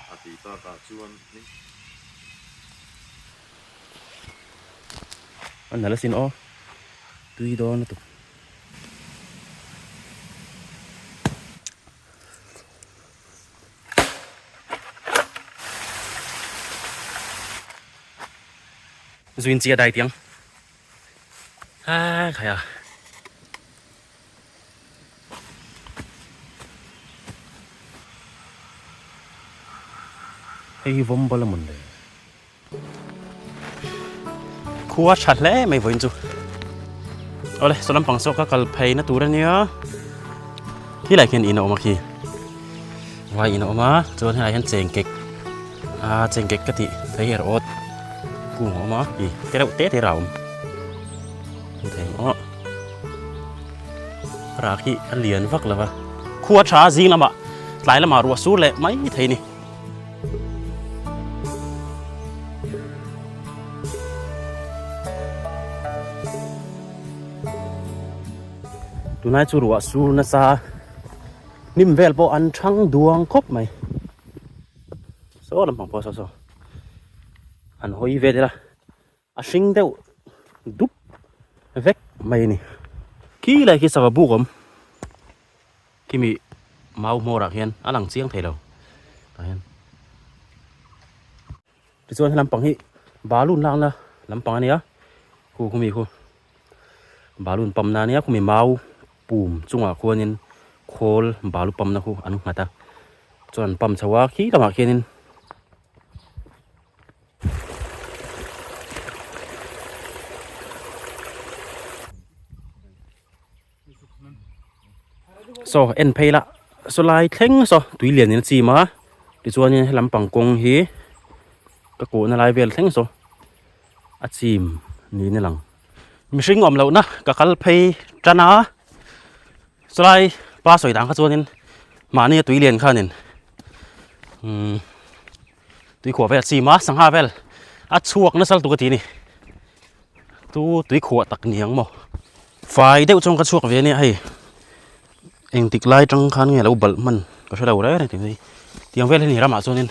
A tih tak ah chuan eng. A nalh asin aw, tui dawn lutuk. Zuin chi a dai tiang. Haa, khaia. Hei hi vawm bal a mun le. Khua tha hle mai vawiin chu. Ole, saw lampang saw ka kal phei na tur ania. Hi lai khian ina awm a khi. Vai ina awm a, chuan hi lai khian cheng kek. A cheng kek ka ti thei her awt. Kung awm a, i te reuh te te rau. Thei maw. Rak hi a lian vak lo va. Khua tha zing lama tlai lama ruah sur leh mai thei ni. Tunai chu ruah sur na sa hnim vel pawh an thang duang khawp mai. Saw lampang pawh saw saw. An hawi vel ila A hring deuh dup vek mai a ni. Khi lai khi sava buk awm. Khi mi mau hmawrah hian a lang chiang thei lo. Tah hian. Tichuan he lampang hi balloon lakna lampang a ni a. Khu khumi khu balloon pump na ania khumi mau pum chungah khuanin khawl balu pump na khu an nghat a. Chuan an pump chho a khi lamah khianin. so en phei la so lai thleng so tui lian in chim a ti chuan in helam pang kawng hi ka kuh na lai vel thleng so a chim niin a lang mihring awm lo na ka kal phei tan a so lai pa sawi dan kha chuan in mahni a tui lian khan in umm Tuikhuah vel chim a sangha vel a chhuak nasal tuk a ti a ni. Chu tuikhuah tak niang maw? Fai deuh chuan ka chhuak ve a nia hei. Engtik lai atang khan nge lo balh hman ka hre lo reng reng tih mai. Tiang vel hi a ni ramah chuan in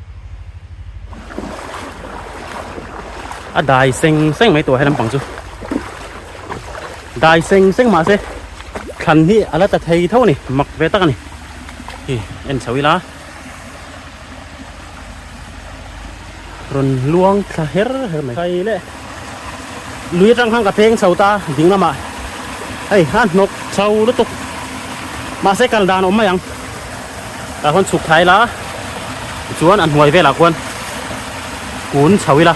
a dai seng seng mai tawh helai lampang chu dai seng seng mah se thlan hi a la ta thei tho a ni mak ve tak a ni hi en chho ila rawn luang thla her her mai phai leh. lui atang khan ka peng chho ta ding lamah hei a hnawk chho lutuk mahse kal dan awm mai ang tah khawn chhuk thai la tichuan a hnuai velah khuan kun chho ila.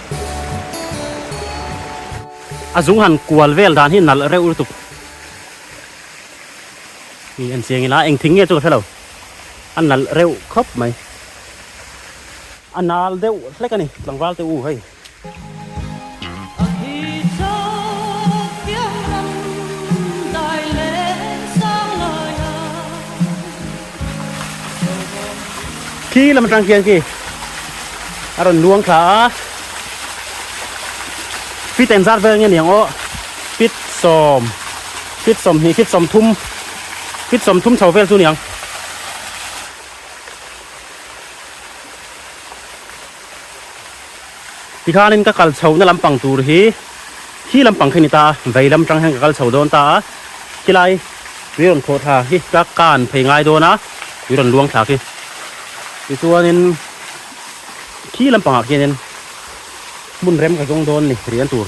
A zung han kual vel dan hi nalh reuh lutuk mi an chiang ila engthing nge chu ka hrelo a nalh reuh khawp mai a nal deuh hlek ani tlangval te u hei. khi lam atang khian khi a rawn luang thla a pit eng zat vel nge niang aw pit sawm pit sawm hnih pit sawm thum pit sawm thum chho vel chu niang Tikhanin ka kal chho na lampang tur hi hi lampang kha ni ta, vei lam tang hian ka kal chho dawn ta a, khilai tui rawn khawh thla hi ka kan phei ngai dawn a, tui rawn luang thla khi. Tichuanin khi lampangah khianin hmun rem ka zawng dawn ni rian tur.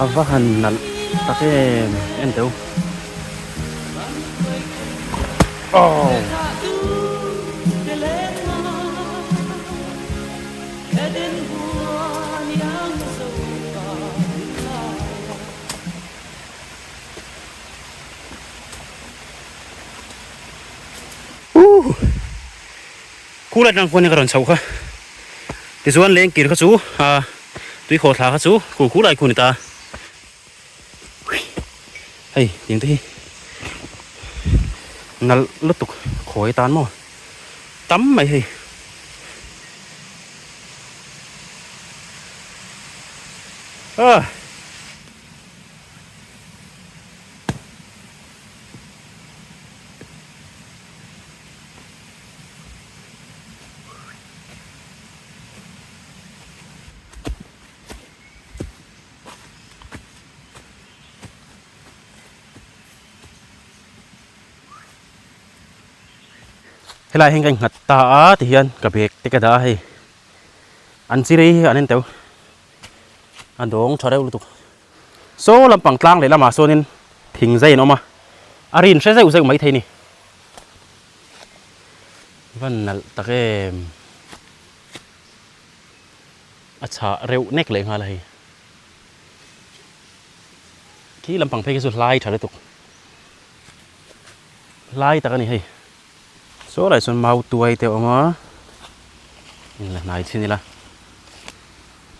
A va han nalh tak em em teu aww. School atang khuanin ka rawn chhoh kha tichuan lengkir kha chu aa tuikhaw thla kha chu school khu lai khu ni ta hei tiang te hi nalh lutuk khawi atan maw tam mai hei ah helai ah hian ka innghat ta a tihian ka bag te ka dah a hei an chi rei hi an en tauh a dawng tha reuh lutuk. Saw lampang tlang leh lamah sawnin thing zai an awm a, a rin hre zeuh zeuh mai thei ni. Va nalh tak em! A chhah reuh nek leh nghal a hei. Khi lampang phei khi chu hlai tha lutuk. Hlai tak a ni hei. Saw laiah chuan mau tuai te a awm a, in la hnai thin ila.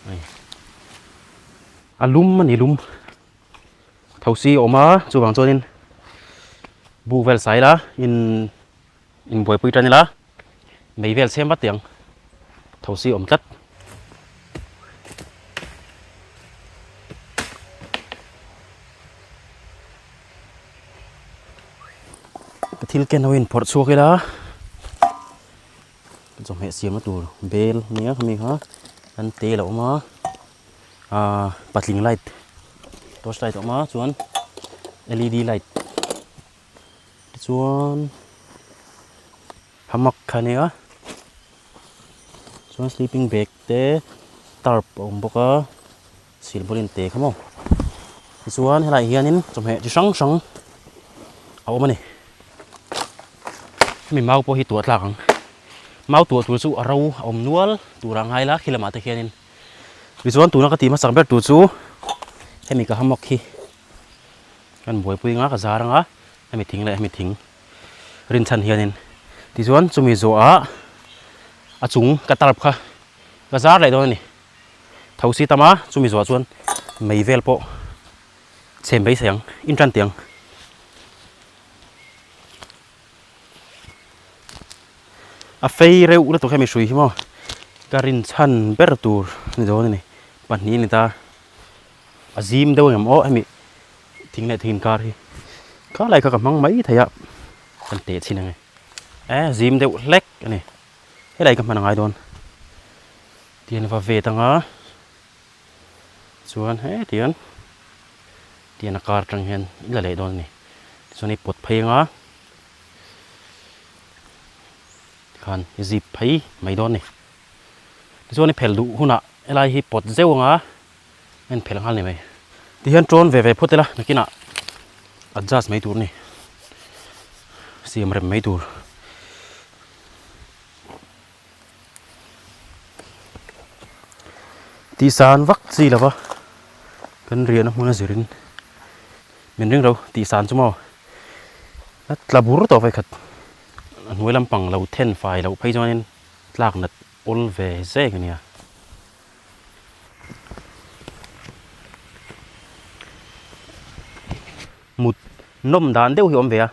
Hei. A lum a ni lum thosi a awm a chuvang chuan in buh vel sai la in in buai pui tan ila mei vel sem vat tih ang thosi a awm tlat thil ken ho in phawrh chhuak ila chawhmeh siamna tur bel nia mi kha kan te la awm a. patling light torch light a awm a chuan led light tichuan hamak kha nia chuan sleeping bag te tarp a awm bawk a silpaulin te kha maw tichuan helaiah hianin chawhmeh chi hrang hrang a awm a ni hemi mau pawh hi tuah tlak ang mau tuah tur chu a ro a awm nual tur a ngai la khi lamah te khianin. Tichuan tuna ka tih hmasa ber tur chu hemi ka hammock hi kan buaipui anga ka zar anga hemi thing leh hemi thing rin chhan hianin tichuan chumi zawhah a chung ka tarp kha ka zar leh dawn a ni tho si tama chumi zawhah chuan mei vel pawh chhem beisei ang in tan teh ang. a fei reuh lutuk hian mihrui hi maw ka rinchhan ber tur ni dawn a ni pahnih a ni ta a zim deuh em aw hemi thing leh thing inkar hi kha lai kha ka hmang mai theih a kan teh chhin ang e a zim deuh hlek a ni helai ka hman a ngai dawn tian va vet ang a. Chuan hetian tian a kar tang hian in la leh dawn a ni. Tichuan hei pawt phei anga khan i zip phei mai dawn a ni. Tichuan i phelh duh hunah helai hi pawt zeuh anga a in phelh nghal a ni mai. Tihian ṭawn ve ve phawt ila nakinah adjust mai tur a ni. Siam rem mai tur. Tih san vak chi lova kan riahna hmuna zir in min ring lo tih san chu maw a tla bur tawh vek khat a hnuai lam pang lo then fai loh phei chuan in tlak nat awl ve zek a nia mut nawm dan deuh hi a awm ve a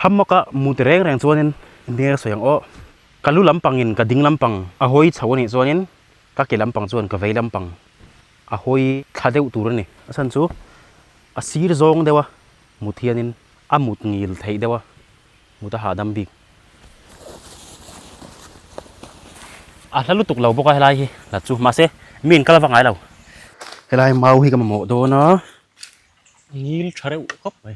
hamawk a mut reng reng chuan in a hmel a sawi ang awh. Ka lu lampangin ka ding lampang a hawi chho a nih chuanin ka ke lampang chuan ka vei lampang a hawi thla deuh tur a ni. A chhan chu a sir zawng deuh a mut hianin a mut ngil theih deuh a mut a hahdam bik. A hla lutuk lo bawk a helai hi hla chu mahse mi an kal va ngai lo. Helai mau hi ka mamawh dawn a, a ngil tha reuh khawp mai.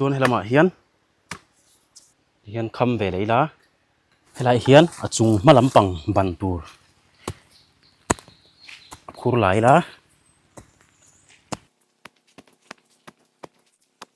chuan he lamah hian hian kham ve leh ila helai hian a chung hma lampang ban tur a khur la ila.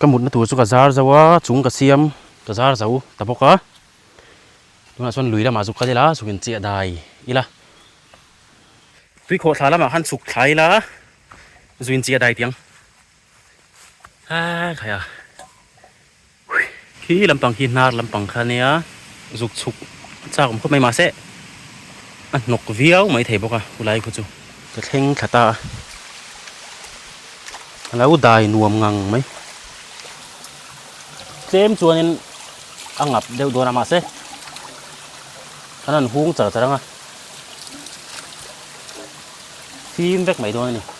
Ka mutna tur chu ka zar zo a, chung ka siam ka zar zo ta bawk a, tunah chuan lui lamah chu ka lela zuk in chiah dai ila, tui khawh thla lamah khan chhuk thla ila zui in chiah dai tiang, a thlai a. Khi lampang khi hnar lampang kha nia zuk chhuk chak awm khawp mai mah se a hnawk viau mai thei bawk a khulai khu chu. Ka thleng thla ta a, a lo dai nuam ngang mai. Tlem chuanin a ngap deuh dawn a mah se a rawn hung char char ang a, fim vek mai dawn a ni.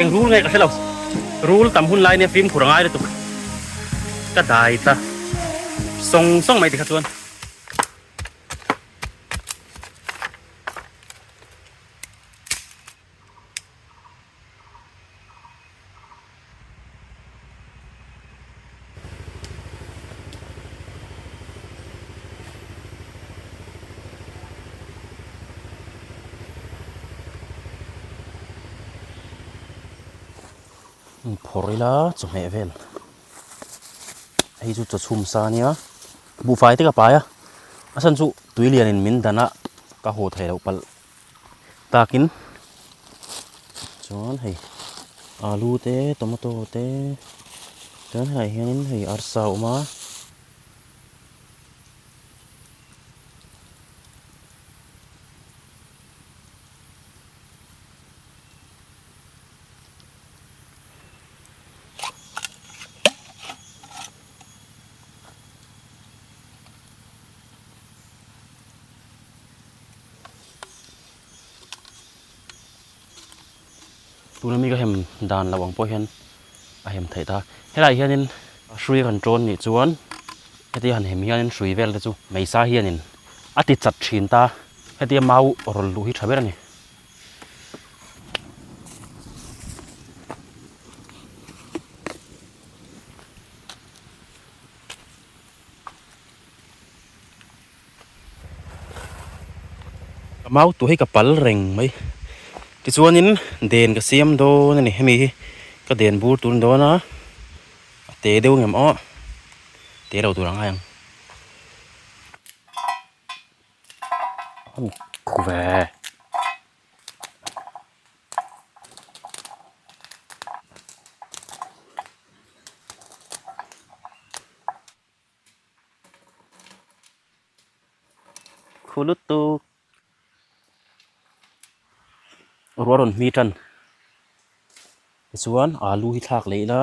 Engrul nge ka hrelo rul tam hun lai nia film khur angai lutuk ka dai ta sawng sawng mai tikha chuan Hei phawrh ila chawhmeh vel hei chu chawchhum sa nia buhfai te ka pai a a chhan chu tui lian in min dan a ka haw thei loh palh. Takin chuan hei alu te tomato te chuan helaiah hianin hei arsa a awm a. tuna mi ka hem dan lo ang pawh hian a hem thei ta helai hianin hrui rawn ṭawn nih chuan heti han hem hianin hrui vel te chu meisa hianin a ti chat ṭhin ta hetia mau rawn luh hi ṭha ber a ni Ka mau tu hi ka pal reng mai tichuanin den ka siam dawn a ni hemi hi ka den bur tur ni dawn a a te deuh ngam aw te lo tur angai ang khuh vek. khulutu ruah rawn hmi tan tichuan alu hi thlak leh ila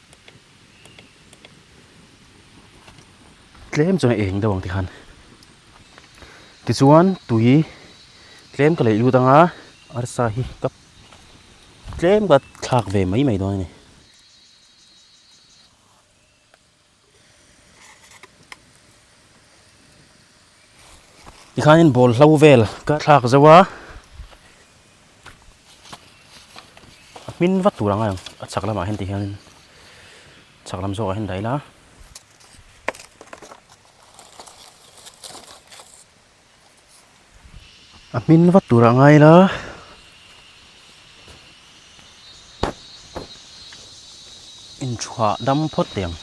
tlem chuan a eng deuh ang te khan tichuan tui tlem ka leh lut anga arsa hi ka tlem ka thlak ve mai mai dawn a ni tikhanin ball hlo vel ka thlak zauh a. a hmin vat tur ang a a chhak lamah hian ti hianin chhak lam zawkah hian dah ila a hmin vat tur a ngai la inchhuah dam phawt te ang.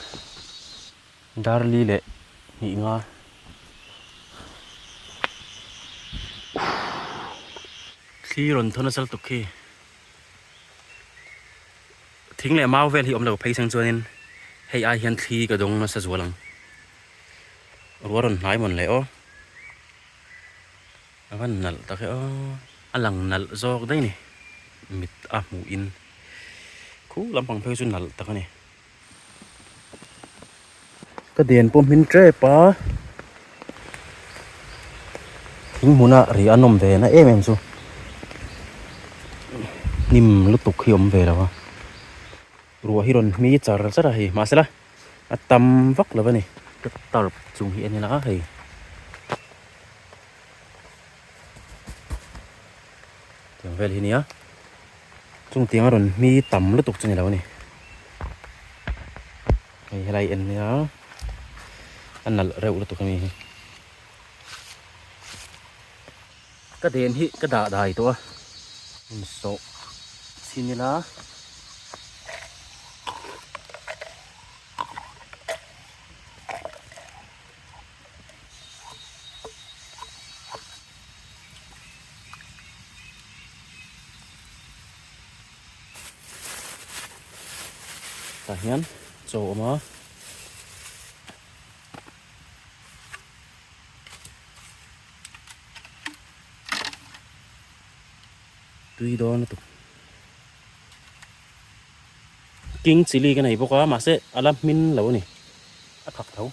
Darli leh hnih nga uuhh thli rawn tho nasal tuk khi thing leh mau vel hi awmlo phei chang chuanin hei ai hian thli ka dawng nasa zual ang rual rawn hnai mawn leh aw a van nalh tak e aw a lang nalh zawk daih a ni mit a hmuh in khung lampang phei chu nalh tak a ni. Ka den pawh hming tep a, thing hmuna rih an awm ve na em em chu hnim lutuk hi awm ve lo a, ruah hi rawn hmi char char a hei mahsela a tam vak lo a ni. Ka tarp chung hi a ni la hei. Tiang vel hi nia, chungtiang a rawn hmi tam lutuk chu ni lo a ni. Hei helai en hi a, a nalh reuh lutuk a ni hi. Ka den hi ka dah dai tawh a, hmun sawh chhin ila. Tah hian chaw a awm a. Tui dawn lutuk. King chili ka nei bawk a mahse a la hmin lo a ni a khak tho.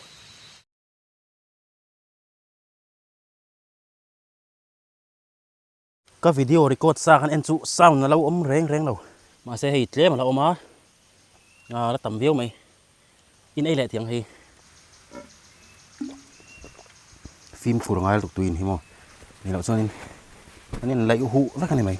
Ka video record sa khan en chu sound a lo awm reng reng lo. Mahse hei tlem a la awm a, a la tam viau mai. In ei leh thiang hi fim phur ngail tuk tuin hi maw ni loh chuan in an in laih hu vek a ni mai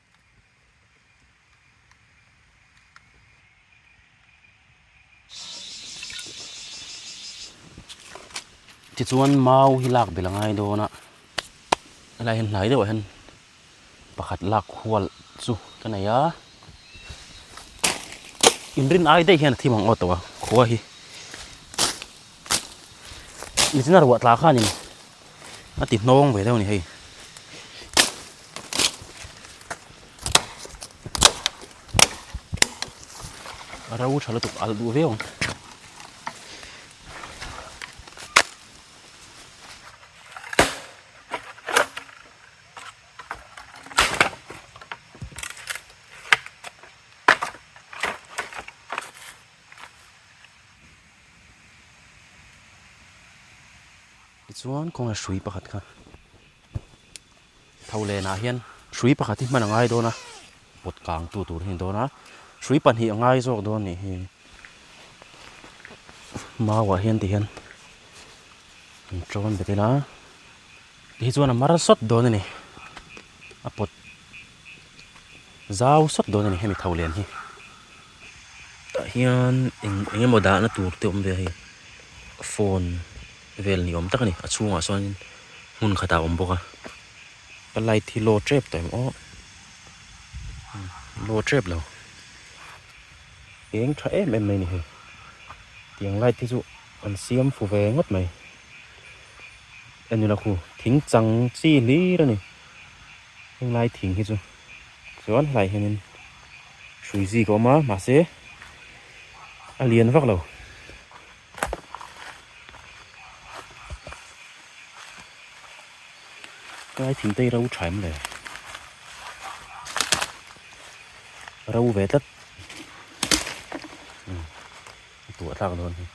tichuan mau hi lak belh a ngai dawn a helai hian hnai deuhah hian pakhat lak khual chu ka nei a inrin ai daih hian a thim ang aw tawh a khua hi nihna ruah tla khanin. a ti hnawng ve deuh a ni hei ro tha lutuk alh duh viau Tichuan kawng leh hrui pakhat kha tho leh nah hian hrui pakhat hi hman a ngai dawn a pawt kang tu tur hi a ni dawn a hrui pahnih a ngai zawk dawn nih hi mau ah hian tihian an ṭawn betin a tih hi chuan a mar sawt dawn a ni a pawt-- Zau sawt dawn a ni hemi tho lian hi. Tah hian eng eng emaw dahna tur te awm ve a hei. Phone vel ni awm tak a ni. A chhungah sawnin hmun khatah a awm bawk a. Ka light hi low tep ta em awh. Low tep lo. Eng tha em em mai a ni hei. Tiang light te chu an siam fu ve ngawt mai. Enula khu thing chang chi hlir a ni. Heng lai thing hi chu chuan helai hianin hrui zîk a awm a, mahse a lian vak lo. Helai thingte hi ro ṭhaim leh ro ve tlat a ni. A tuah tlak dawn hi.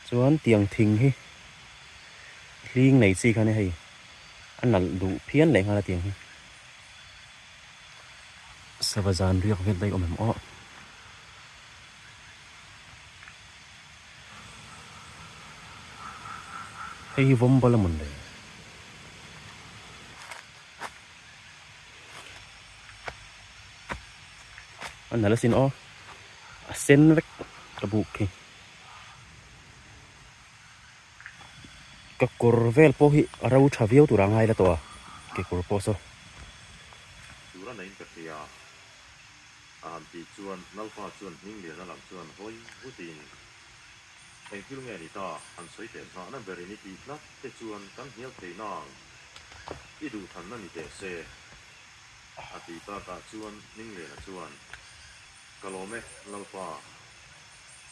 Chuan tiang thing hi. hling nei chi khan hei a nalh duh phian leh nghal atin hi sava zan riak vek daih awm em aw. Hei hi vawm bala mun leh. An nalasin aw. A sen vek ka buk khi. ka kawr vel pawh hi a ro tha viau tur a ngai la tawh a, kekawr pawh saw. Tura neiin ka hria a han tih chuan Nalpa chuan hming liana lam chuan hawi vutin, Eng thil nge a ni ta, han sawi teh hna na berin i tih hlat te chuan kan hnial thei nang, i duh than na ni teh se a tih takah chuan hming liana chuan, Ka lawm e Nalpa.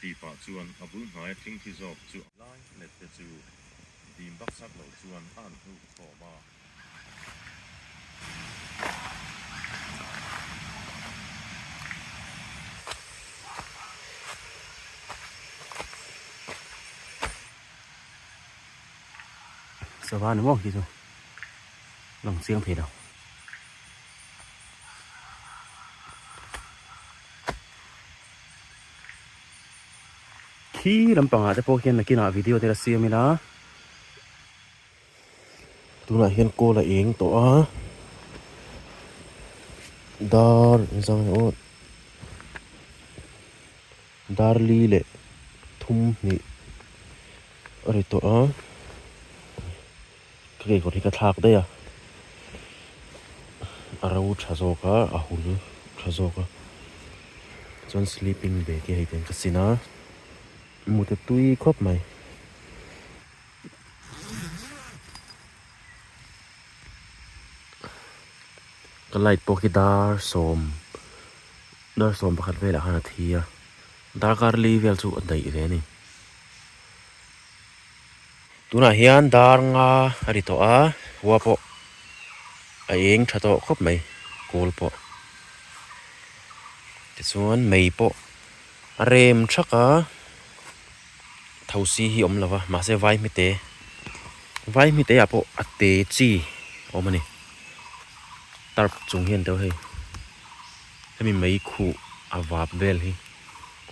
Tih pah chuan a bul hnaia thingthi zawk chu a. Lai let te chu dim baksak lo chuan a han hnuk thawm a. Sava ni maw hi chu lang chiang thei lo. Khi lampangah te pawh hian nakinah video te la siam ila tunah hian call a eng tawh a dar zawng aw darli leh thum hnih a ri tawh a. Ka kekawr hi ka thlak daih a, a ro tha zawk a, a hul tha zawk a, chuan sleeping bag hi hei ten ka sin a, mute tui khawp mai. Ka light pawh khi dar sawm, dar sawm pakhat vel ah khan a thi a, darkar li vel chu a daih ve a ni. Tunah hian dar nga a ri tawh a, khua pawh a êng ṭha tawh khawp mai kûl pawh. Tichuan mei pawh a rêm ṭhak a, thosi hi awm lo va, mahse vai hmite, vai hmiteah pawh a tê chi a awm a ni. Tarp chung hian deuh hei, hemi mei khuh a vâp vêl hi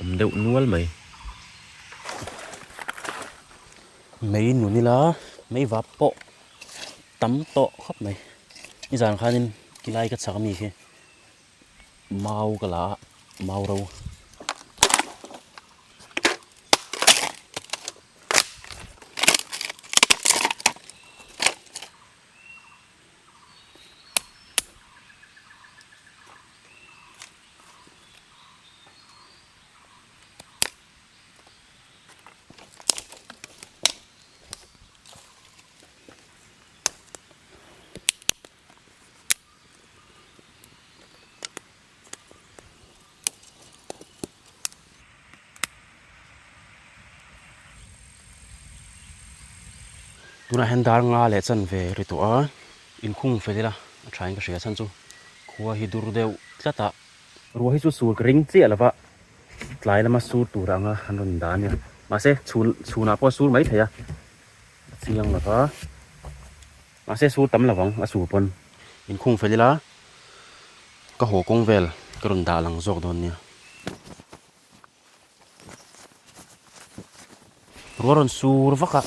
awm deuh nual mai. mei nun ila mei vap pawh tam tawh khawp mai i zan khan in i lai ka chak ami hi mau ka la a mau ro tunah hian dar nga leh chanve ri tawh a inkhung fel ila a thain ka hria chhan chu khua hi dur deuh tlat a. Ruah hi chu chhul ka ring chiah lova tlai lama sur tur anga an rawn dah ania mahse chhun chhunah pawh a sur mai thei a a chiang lova mahse sur tam lovang a sur pawn min khung fel ila ka haw kawng vel ka rawn dah lang zawk dawn nia. Ruah rawn sur vaka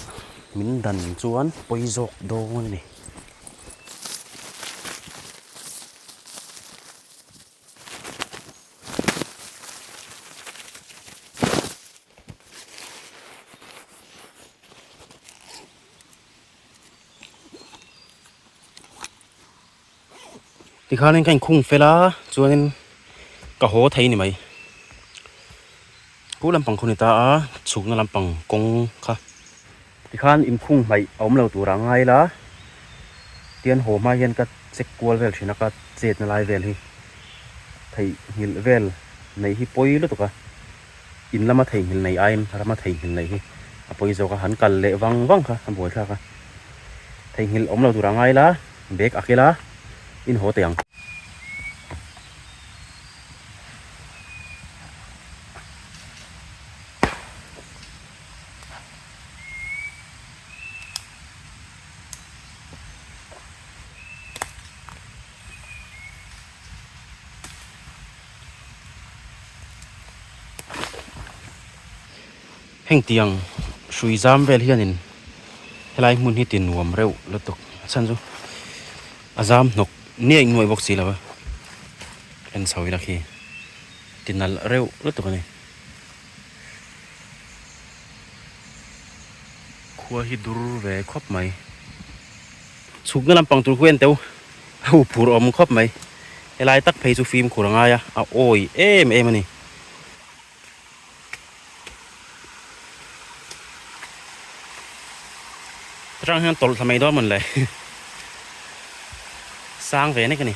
min dan chuan pawi zawk dawn a ni. Tikhan in ka in khung fel a chuan in ka haw thei ni mai pu lam pang khuni ta a chhuk na lam pang kawng kha tikhan in khung mai a awm lo tur a ngai la tian haw hma hian ka check kual vel thin a ka chet na lai vel hi thei nghilh vel nei hi pawi lutuk a In lama theihnghilh neih aiin rama theihnghilh neih hi a pawi zawk a, han kal leh vang vang kha a buai thlak a. Theihnghilh awmlo tur a ngai la, bag a kil a, in haw teh ang. heng tiang hrui zam vel hian in helai hmun hi tin nuam reuh lutuk a chhan chu a zam hnawk ni aih nuaih bawk si lo a hlen chho ila khi ti nalh reuh lutuk a ni khua hi dur ve khawp mai. Chhukna lampang tur chu enteu a hu phur awm khawp mai. Helai tak phei chu fimkhur a ngai a, a awi em em a ni. Chutang hian tawlh thla mai dawn a mun le. Sang ve nek a ni.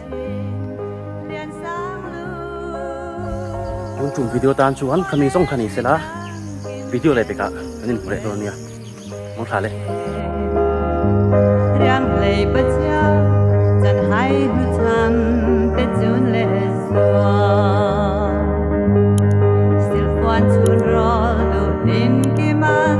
Hun tum video tan chu an khami zong khani sela video le peka an in hmu leh dawn nia mo thla le riang lei pa cha chan hai nu cham pe chun le zua sil puan chun rol do din ki man